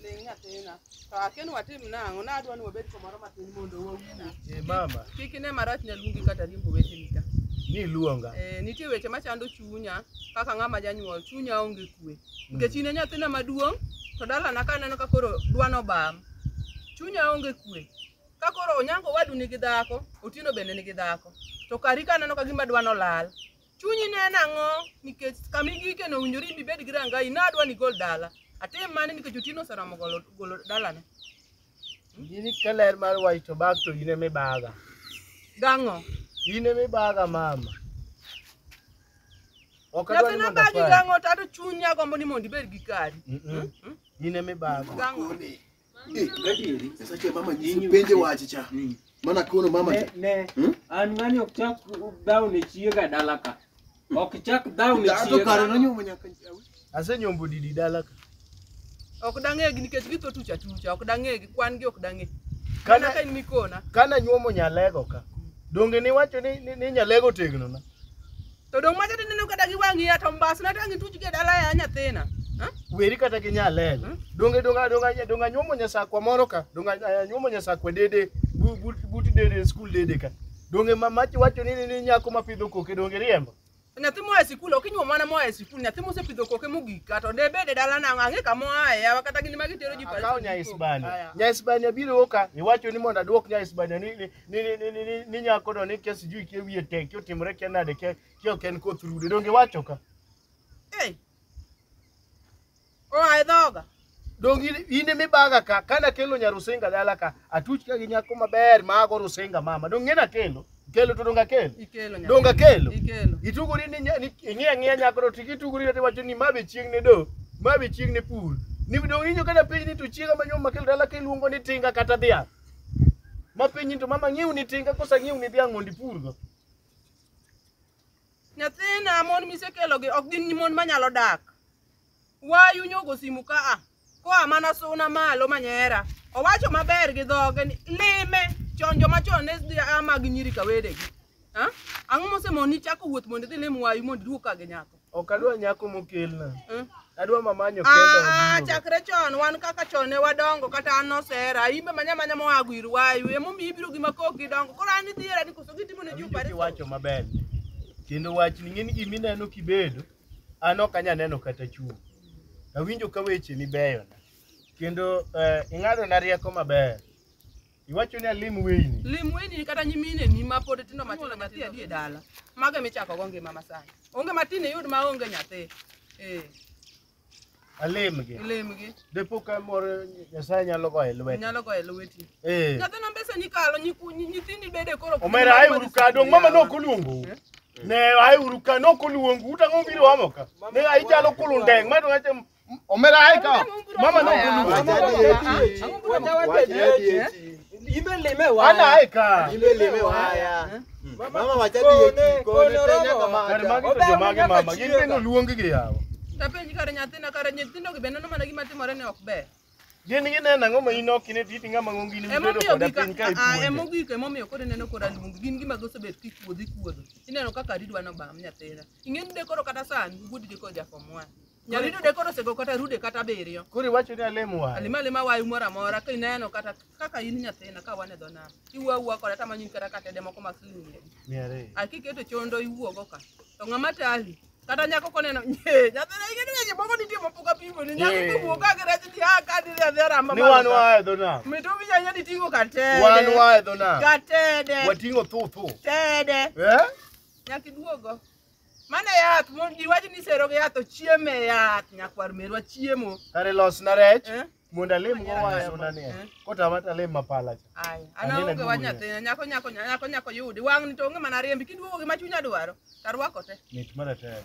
Ling nyathina. To akia ni watim nang'o, nadwa ni wabed kamoro matin mondo wawuo. Eh, mama, Kik ine marach ne luongi kata riembo weteni ka. niluonga. Eh, nitie weche machando chunya kaka ng'ama janyuol, chunya onge kwe. Nikech in e nyathina maduong' to dalana ka aneno ka koro dwano bam. Chunya onge kwe. Ka koro onyango wadu nigi dhako, otieno bende nigi dhako. To kari ka aneno ka gima dwano lal. Chunyi ne en ang'o nikech kama igike no owinjore ibi bed gi rangayi ne adwa ni igol dala. Atim mane nikech Otieno oseromo golo golo dalane. In ka ler mar wach to bag to in ema ibaga. Gang'o? In ema ibaga mama. Ok adwa Nyathi ni mondo nabagi akwari. gang'o to ato chunya gombo ni mondo ibed gi kari. Mm-mm. In ema ibaga. Gang'o? Eh, Gadieri. Sasa che mama nyinyi penje wache cha. Mm. Maana kono mama Ne, cha. ne. Hmm? An ng'ani ok chak dhaw ne chiega dala ka. Ok chak dhaw ne Dato kare chiega. nanyo manya kan. Asenyombo didi dala ka. Ok dang'egi nikech githo tuch atucha, ok dang'egi, kwan gi ok dang'e. Kana Kana ka in mikona. kana nyuomo nyalego ka. Donge niwacho ni, ni, ni nyalego tegno na. To dong macha tineno kata gi wang'i ya to mbasna to ang' ituch gi e dala ya nyathina. Ha? weri kata gi nyalel Hmm? donge donga donga donga nyuomo nyasakwa moro ka donga eh, nyuomo nyasakwa dede bu- but but dede skul dede ka donge ma machi wacho ni ni- ni nyako ma pidho koke donge riembo Nyathi moa e sikul ok inyuom mana moa e sikul nyathi mosepidho koke mogik kato de bed e dala nang'o ang'e kama oaye yawa kata gin ma gitero ji akawo nya isbania nya isbania biro ka iwacho ni mondo aduok nya isbania ni ni- ni ni ni ni, ni, ni nyako do ni kia sijui kia wiye tek kia otimore kia nade kia kia ok en koth rude donge iwacho ka Hey. Oa e dhoga. donge in- in ema ibaga ka kane akelo nya rusinga dala ka atuch ka gi nyako maber mago rusinga mama donge ng'e nakelo kelo to donge akelo Ikelo nyaka. donge akelo Ikelo. itugori ni nya- ni- ing'iya ng'iya nyako to tiki itugori to iwacho ni ma be chieng' ne do ma be chieng' ne pur ni donge inyo kata piny ni to chiega manyuom makelo dala ka iluongo ni tinga kata dhiang' Ma penji to mama ng'iew ni tinga kosa ng'iew ni dhiang' mondo ipurgo. Nyathina mon misekelogi ok gin mon manyalo dak. Wayu nyogo simu ka a. Koa mana suna malo manyera. Owacho maber gi dhoge ni lime chon joma chon ne dhi a mag nyiri ka wedegi. Ha? Ang'o mosemoni ni chako wuoth mondo idhi lim wayu mondo iduog ka gi nyako? Ok adwa nyako mokelna. Eh? Adwa mamanyo Ah, kenda. ah, oduoga. chakre chon wan kaka chon ne wadongo kata an nosera imbe manya manya moa gwir wayu emomiyo ibiro gi makok gidongo koro an idhiera ni koso gitimo ne ji Awinjo kiwacho maber. Kendo wach ni ng'eni gima ineno kibedo, an ok anya neno kata chung'. Awinjo ka weche ni beyo. Kendo eh, ing'adona rieko maber. Iwacho ni alim weyni. Lim weyni kata nyimine ni ma pod tindo matindo matindo adhi e dala. Mago michako go ngima masani. Onge matin iyud ma onge nyathi. Eh. Alemgi. Alemgi. Depo ka moro Nyasaye nyalo goye lweti. Nyalo goye lweti. Eh. Nyathina mbesa ni kalo nyithindi bede koro. Omera ai uru ka dong mama no kuluongo. Eh? Ne ai uru ka no kuluongo utang'o biro amo ka. Ne ai jalo kulundeng ma to Omeraika. Mama no kulu. Ana aika. Kare magi to jomage mama. Gin be noluong gi yawa. Tapenji kare nyathina kare nyithindo gi bende nomana gima timore ne ok ber. Gin gineno ang'o ma in ok ine titi ng'ama ng'ongi ni bedo Emomiyo koda gika piny ka ah, ipuonjo. emogik emomiyo koro ineno kora luong gin gima gosebet kikuodho ikuodho. Ineno kaka ridwa nobam nyathina. Ing'eni de koro kata sani wuod gi koja form one. Nyari dude koro osego kata rude kata abiriyo. Koro iwacho ni alemo wayo. Alima alima wayo moro amora ka ineno kata kaka in nyathina ka wan e dho nam. Iwuo awuoa koda tama nying kata katede moko mag siling mia abich. Mia ariyo. A kiketo chondo iwuogo ka. To ng'ama tali kata nyako koneno nye nyathina ing'eni weche moko nitie mapok apimo ni nyako Yeah. kowuok ka girach ni a ka diri adhi aramba Ni malo wan ka. wayo dho nam. Mito winya nyadi ting'o katede. Wan wayo dho nam. Katede. Wating'o thu thu. Tede. Eh? Nyaka iduogo. Mane yath, mon ji wacho ni sero gi yath ochiemo e yath, nyakwar merwa chiemo. Kare losna rech Eh? mondo alim go waya Losna mondo ni. eh. Kotama to alim mapala cha. Ai, Anene ana onge dugu wach ya. nyathina, nyako nyako nyako nyako yudi. Wang'ni to onge mana riembi, kiduogo gi ma chunya dwaro, tarwako te. Mit mara tek.